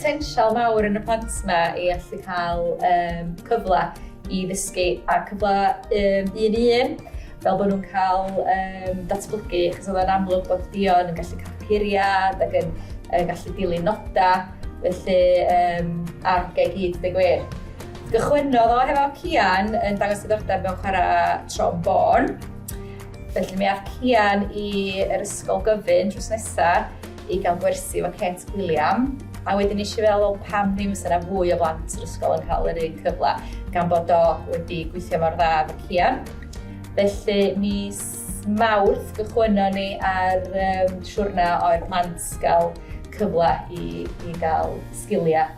potensial mawr yn y plant yma i allu cael um, cyfle i ddysgu a cyfle um, un i un fel bod nhw'n cael um, datblygu, achos oedd yn amlwg bod Dion yn gallu cael curiad ac yn, yn gallu dilyn nodau, felly um, argau gyd, deg wir. Cychwynnodd o hefo Cian yn dangos diddordeb mewn chwarae trombôn. Felly mi ath Cian i'r ysgol gyfun drws nesa i gael gwersi efo Kate Gilliam. A wedyn eisiau fel, wel, pam ddim os yna fwy o blant yr ysgol yn cael yr un cyfle, gan bod o wedi gweithio mor dda efo Cian. Felly, mis Mawrth gychwynno ni ar um, siwrna o'r plant gael cyfle i, i gael sgiliau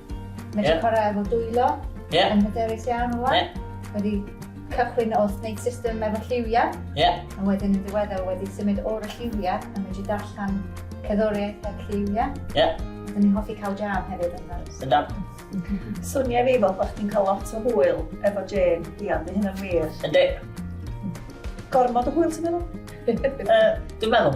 Mae wedi chwarae efo dwylo yeah. yn hyderus iawn o Yeah. Wedi cychwyn wrth wneud system efo lliwiau. Yeah. A wedyn yn diweddar wedi symud o'r lliwiau a wedi darllen cerddoriaeth a lliwiau. Yeah. Dyn ni'n hoffi cael jam hefyd yn dda. Yn dda. Swnio fi fel bod chdi'n cael lot o hwyl efo Jane, Dian, di hynna'n wir. Ynddi. Gormod o hwyl ti'n meddwl? Dwi'n meddwl.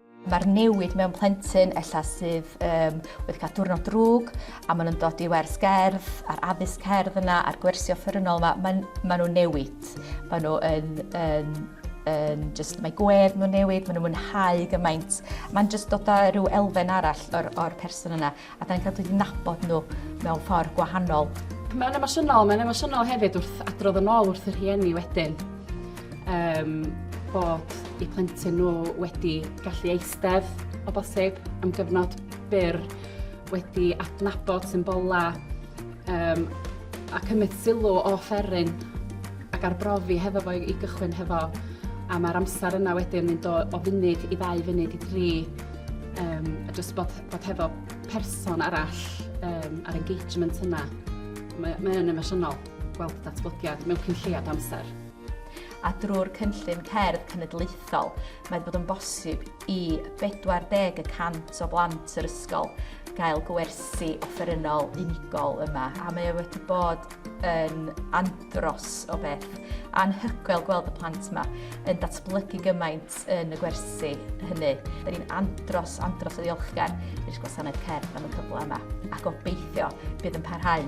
Mae'r newid mewn plentyn ella sydd um, wedi cael diwrnod drwg a maen nhw'n dod i wers gerdd a'r addysg cerdd yna a'r gwersio ffyrnol yma, maen, maen nhw'n newid. Maen nhw yn, yn, yn just, mae gwedd nhw'n newid, maen nhw'n mwynhau gymaint. Mae'n just dod â rhyw elfen arall o'r, or person yna. A da ni'n cael dod i nabod nhw mewn ffordd gwahanol. Mae'n emosiynol, mae'n emosiynol hefyd wrth adrodd yn ôl wrth y rhieni wedyn. Um, bod i plentyn nhw wedi gallu eistedd o bosib am gyfnod byr, wedi adnabod symbola um, a cymryd sylw o fferin ac arbrofi hefo fo i gychwyn hefo a mae'r amser yna wedyn yn mynd o, o funud i ddau funud i dri um, a jyst bod Bod hefo person arall um, a'r engagement yna, mae, mae yn emosiynol gweld datblygiad mewn cyn lleiad amser. A drwy'r cynllun cerdd cenedlaethol, mae wedi bod yn bosib i 40 y cant o blant yr ysgol gael gwersi offerynnol unigol yma a mae e wedi bod yn andros o beth anhygoel gweld y plant yma yn datblygu gymaint plant yn y gwersi hynny. Da ni'n andros, andros o ddiolchgar i'r gwasanaeth cerdd am y cyfle yma a gobeithio bydd yn parhau.